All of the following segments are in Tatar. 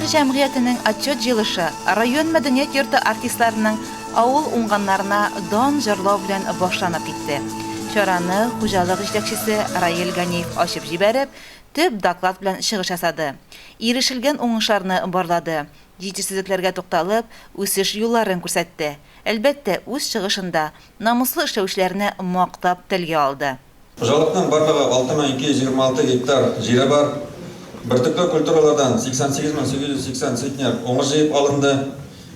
Мир җәмгыятенең отчет җыелышы район мәдәният йорты артистларының авыл уңганнарына дан җырлау белән башланып китте. Чараны хуҗалык җитәкчесе Раил Ганиев ачып җибәреп, төп доклад белән чыгыш ясады. Ирешелгән уңышларны барлады, җитешсезлекләргә тукталып, үсеш юлларын күрсәтте. Әлбәттә, үз чыгышында намуслы эшләүчеләрне мактап телгә алды. Хуҗалыкның барлыгы 6226 гектар җире бар. Бөртекле культуралардан 88880 центнер уңыш җыеп алынды.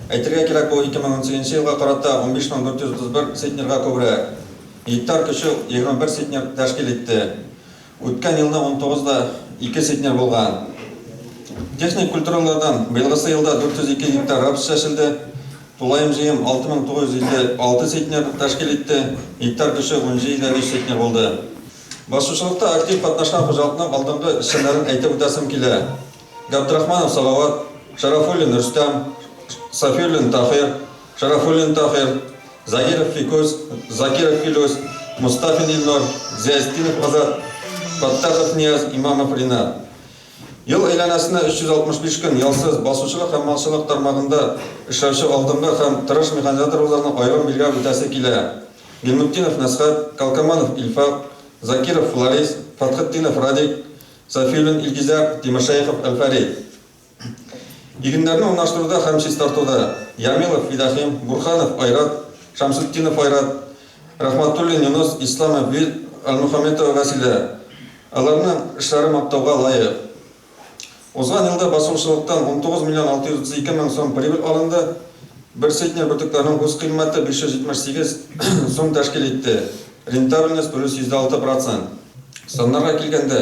Әйтергә кирәк, бу 2018 елга карата 15431 центнерга күбрәк. Гектар күчү 21 центнер тәшкил итте. Үткән елны унтугыз да ике центнер булган. Техник культуралардан быелгысы елда 402 гектар рапс чәчелде. Тулаем җыем 6956 центнер тәшкил итте, гектар көче 17,3 центнер булды. Басучылыкта актив катнашкан хуҗалыкның алдынгы эшчәннәрен әйтеп үтәсем килә. Габдрахманов Салават, Шарафуллин Рөстәм, Сафиуллин Таһир, Шарафуллин Таһир, Заиров Фикус, Закиров Филүс, Мостафин Илнур, Зиястинов Азат, Фаттахов Нияз, Имамов Ринат. Ел әйләнәсенә 365 көн ялсыз, басучылык һәм малчылык тармагында эшләүче алдынгы һәм тырыш механизаторларны аерым билгәп үтәсе килә. Гыйльметдинов Мәсхәт, Калкаманов Илфак, Закиров Фларис, Фатхетдинов Радик, Сафиуллин Илгизәр, Тимершәехов Әлфәрит. Игеннәрне урнаштыруда һәм чистартуда Ямилов Фидахим, Бурханов Айрат, Шәмсетдинов Айрат, Рәхмәтуллин Юныс, Исламов Вил, Әлмөхәммәтова Вәсилә. Аларның эшләре мактауга лаек. Узган елда басулчылыктан 19 миллион 632 мең сум прибыль алынды. Бер центнер бөртекләрнең үз кыйммәте 578 сум тәшкил итте, рентабельность плюс %6 процент. Саннарга килгәндә,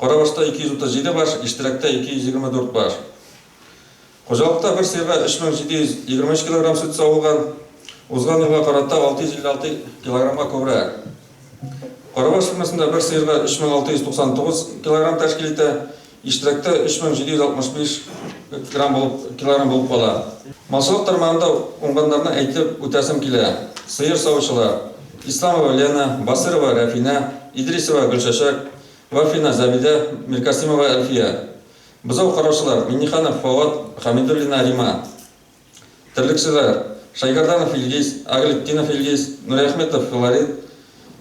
Карабашта 237 баш, Иштәрәктә 224 баш. Хуҗалыкта бер сыерга 3723 килограмм сөт савылган, узган елга карата 656 килограммга күбрәк. Карабаш фермасында бер сыерга 3699 килограмм тәшкил итә, Иштәрәктә 3765 килограмм булып кала. Малчылык тармагында уңганнарны әйтеп үтәсем килә, сыер савучылар, Исламова Лена, Басырова Рәфинә, Идрисова Гөлчәчәк, Вафина Зәбидә, Миркасимова Әлфия, бозау караучылар, Миңнеханов Фоат, Хәмидуллина Рима, терлекчеләр, Шәйгәрданов Илгиз, Агыйлетдинов Илгиз, Нуриәхметов Флорид,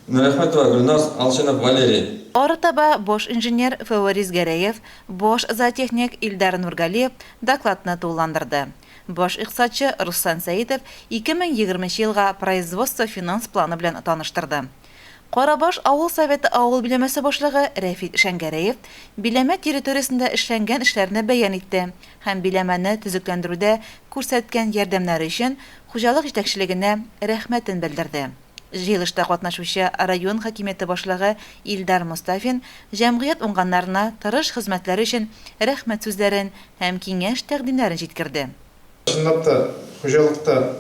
Нуриәхметова Гөлназ, Алчинов Валерий. Арытаба баш инженер Фәварис Гәрәев, баш зоотехник Илдар Нургалиев докладны тулыландырды. Баш икътисадчы Руслан Сәетов 2020 нче елга производство-финанс планы белән таныштырды. Карабаш авыл Советы авыл биләмәсе башлыгы Рәфит Шәңгәрәев биләмә территориясендә эшләнгән эшләрне бәян итте һәм биләмәне төзекләндерүдә күрсәткән ярдәмнәре өчен хуҗалык җитәкчелегенә рәхмәтен белдерде. Җыелышта катнашучы район хакимияте башлыгы Илдар Мостафин җәмгыять уңганнарына тырыш хезмәтләре өчен рәхмәт сүзләрен һәм киңәш-тәкъдимнәрен җиткерде. Чынлап та, хуҗалыкта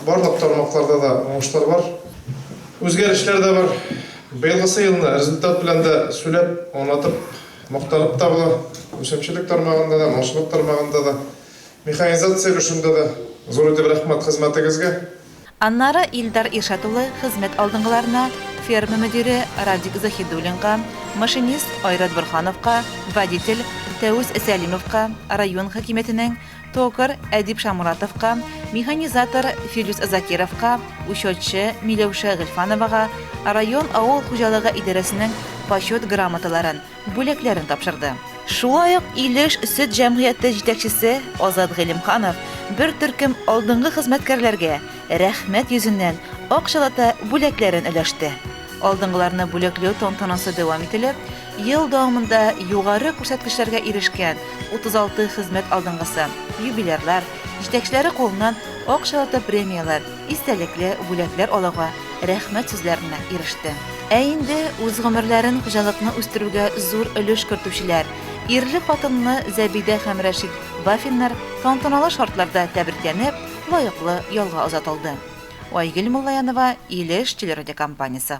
барлык тармакларда да уңышлар бар, үзгәрешләр дә бар. Быелгысы елны результат белән дә сүләп, аңлатып, мактанып та була. Үсемчелек тармагында да, малчылык тармагында да, механизация өлешендә дә зур итеп рәхмәт хезмәтегезгә. Аннары Илдар Иршат улы хезмәт алдынгыларына, ферма мөдире Радик Заһидуллинга, машинист Айрат Борһановка, водитель Фәүз Сәлимовка, район хакимиятенең токарь Әдип Шамуратовка, механизатор Филүс Закировка, учетчы Миләүшә Гыйльфановага, район авыл хуҗалыгы идарәсенең почет грамоталарын, бүләкләрен тапшырды. Шулай ук Илеш сөт җәмгыяте җитәкчесе Азат Гыйлемханов бер төркем алдынгы хезмәткәрләргә рәхмәт йөзеннән акчалата бүләкләрен өләште. Алдынгыларны бүләкләү тантанасы дәвам ителеп, ел дәвамында югары күрсәткечләргә ирешкән 36 хезмәт алдынгысы, юбилярлар, җитәкчеләре кулыннан акчалата премияләр, истәлекле бүләкләр алуга, рәхмәт сүзләренә иреште. Ә инде үз гомерләрен хуҗалыкны үстерүгә зур өлеш кертүчеләр, ирле-хатынлы Зәбидә һәм Рәшит Бафиннар тантаналы шартларда тәбрикләнеп, лаеклы ялга озатылды. Айгөл Муллаянова, Илеш телерадиокомпаниясе.